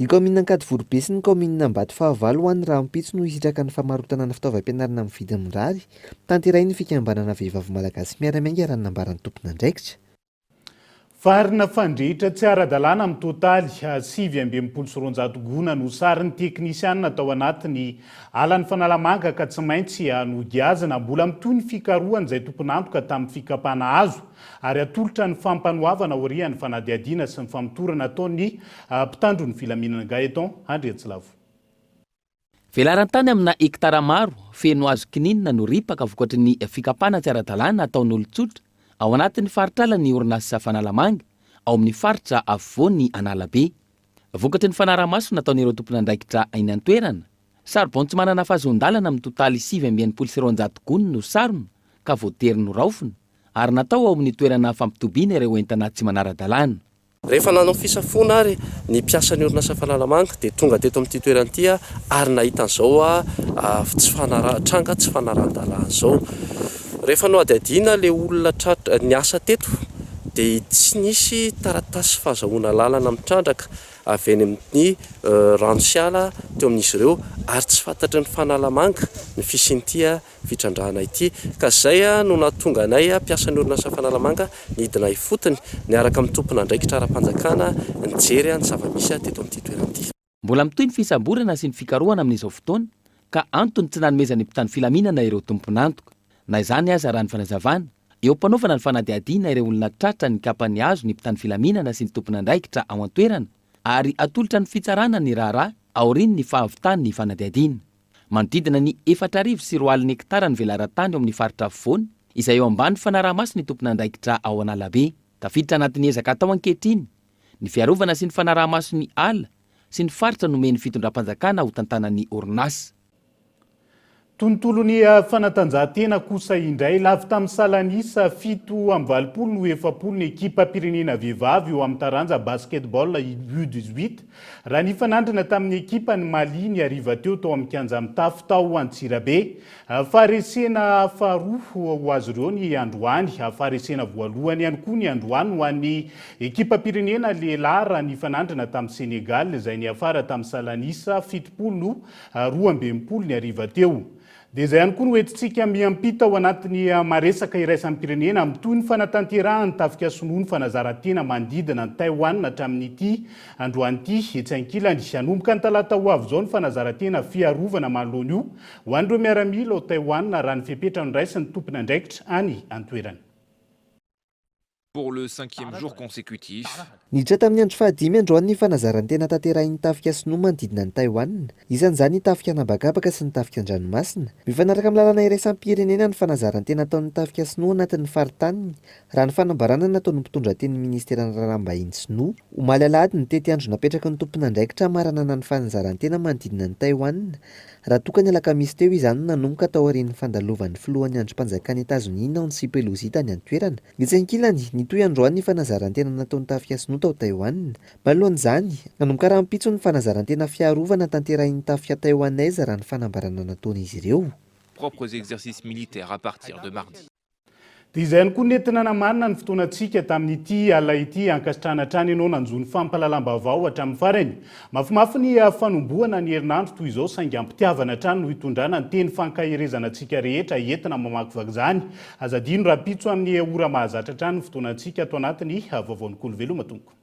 Ny kaominina Ankadivoribe sy ny kaominina Ambatofahavalo ho any rahampitso no hisitraka ny famarotana ny fitaovam-pianarana amin'ny vidiny mirary, tanterahin'ny fikambanana Vehivavy Malagasy Miara-miainga raha ny nambaran'ny tompon'andraikitra. Varina fandrehitra tsy ara-dalàna mitotaly sivy amby enimpolo sy roanjato gona no sarin'ny teknisianina tao anatin'ny alan'i Fanalamanga ka tsy maintsy nogiazina. Mbola mitohy ny fikarohan'izay tompon'antoka tamin'ny fikapana azo ary atolotra ny fampanoavana aorian'ny fanadihadiana sy ny famotorana ataon'ny mpitandro ny filaminana Gaëton Andriantsilavo. Velaran-tany amina hektara maro feno hazo kininina no ripaka vokatry ny fikapana tsy ara-dalàna ataon'olon-tsotra ao anatin'ny faritr'ala ny orinasa Fanalamanga ao amin'ny faritra afovoany Analabe. Vokatry ny fanarahamaso nataon'ireo tompon'andraikitra eny an-toerana, saribao tsy manana fahazoan-dalana mitotaly sivy amby enimpolo sy roanjato gony no sarona ka voatery noraofina ary natao ao amin'ny toerana fampitobiana ireo entana tsy manara-dalàna. Rehefa nanao fisafoana ary ny mpiasan'ny orinasa Fanalamanga dia tonga teto amin'ity toerana ity ary nahita an'izao tranga tsy fanarahan-dalàna izao. Rehefa nohadihadiana ilay olona tratra niasa teto dia tsy nisy taratasy fahazahoana lalana mitrandraka avy eny amin'ny rano sy ala teo amin'izy ireo ary tsy fantatry ny fanalamanga ny fisian'ity fitrandrahana ity ka izay no nahatonga anay mpiasan'ny orinasa fanalamanga nidina ifotony niaraka amin'ny tompon'andraikitra ara-panjakana nijery ny zava-misy teto amin'ity toerana ity. Mbola mitohy ny fisamborana sy ny fikarohana amin'izao fotoana ka antony tsy nanomezan'ny mpitandro filaminana ireo tompon'antoka. Na izany aza raha ny fanazavana, eo am-panaovana ny fanadihadiana ireo olona tratra ny kapa nihazo ny mpitandro filaminana sy ny tompon'andraikitra ao an-toerana ary hatolotra ny fitsarana ny raharaha aorian'ny fahavitan'ny fanadihadiana. Manodidina ny efatra arivo sy roa alina hektara ny velaran-tany ao amin'ny faritra afovoany izay eo ambany fanaraha-maso ny tompon'andraikitra ao Analabe. Tafiditra anatin'ny ezaka atao ankehitriny Ny fiarovana sy ny fanaraha-maso ny ala sy ny faritra nomen'ny fitondram-panjakana ho tantanan'ny orinasa. Tontolon'ny fanatanjahantena kosa indray. Lavo tamin'ny salan'isa, fito amby valopolo no efapolo ny ekipam-pirenena vehivavy eo amin'ny taranja basketball U dix-huit, raha nifanandrina tamin'ny ekipan'i Mali ny hariva teo tao amin'ny kianja mitafo tao Antsirabe. Faharesena faharoa ho azy ireo ny androany. Faharesena voalohany ihany koa ny androany ho an'ny ekipam-pirenena lehilahy raha nifanandrina tamin'i Senegal izay niafara tamin'ny salan'isa fitopolo roa amby enimpolo ny hariva teo. Dia izay ihany koa no entintsika miampita ao anatin'ny maresaka iraisam-pirenena amin'ny tohin'ny fanatanterahan'ny tafika sinoa ny fanazaran-tena manodidina an'i Taiwan hatramin'ity androany ity. Etsy ankilany, hanomboka ny talata ho avy izao ny fanazaran-tena fiarovana manoloana io Ho an'ireo miaramila ao Taiwan raha ny fepetra noraisin'ny tompon'andraikitra any an-toerana. pour le cinquième jour consécutif. Niditra tamin'ny andro fahadimy androany ny fanazaran-tena tanterahin'ny tafika sinoa manodidina an'i Taiwan, isan'izany ny tafika an'habakabaka sy ny tafika an-dranomasina. Mifanaraka amin'ny lalàna iraisam-pirenena ny fanazaran-tena ataon'ny tafika sinoa anatin'ny faritaniny, raha ny fanambarana nataon'ny mpitondra tenin'ny Ministeran'ny Raharaham-bahiny sinoa, omaly alahady ny tetiandro napetraky ny tompon'andraikitra hamaranana ny fanazaran-tena manodidina an'i Taiwan. Raha toa ka ny alakamisy teo izany no nanomboka taorian'ny fandalovan'ny filohan'ny andrimpanjakan'i Etazonia Nancy Pelosi tany an-toerana, dia tsy ankilany, nitohy androany ny fanazaran-tena nataon'ny Tafika Sinoa tao Taiwan. Manoloan'izany, nanomboka rahampitso ny fanazaran-tena fiarovana tanterahin'ny Tafika Taiwanese raha ny fanambarana nataon'izy ireo. propres exercices militaires à partir de mardi. Dia izay ihany koa nentina namarina ny fotoanantsika tamin'ity alina ity. Ankasitrahana hatrany ianao nanjo ny fampahalalam-baovao hatramin'ny farany. Mafimafy ny fanombohana ny herinandro toy izao saingy am-pitiavana hatrany no hitondrana ny teny fankaherezana antsika rehetra entina mamakivaky izany. Aza adino rahampitso amin'ny ora mahazatra hatrany ny fotoanantsika ato anatin'ny Vaovaon'Ikolo Veloma tompoko.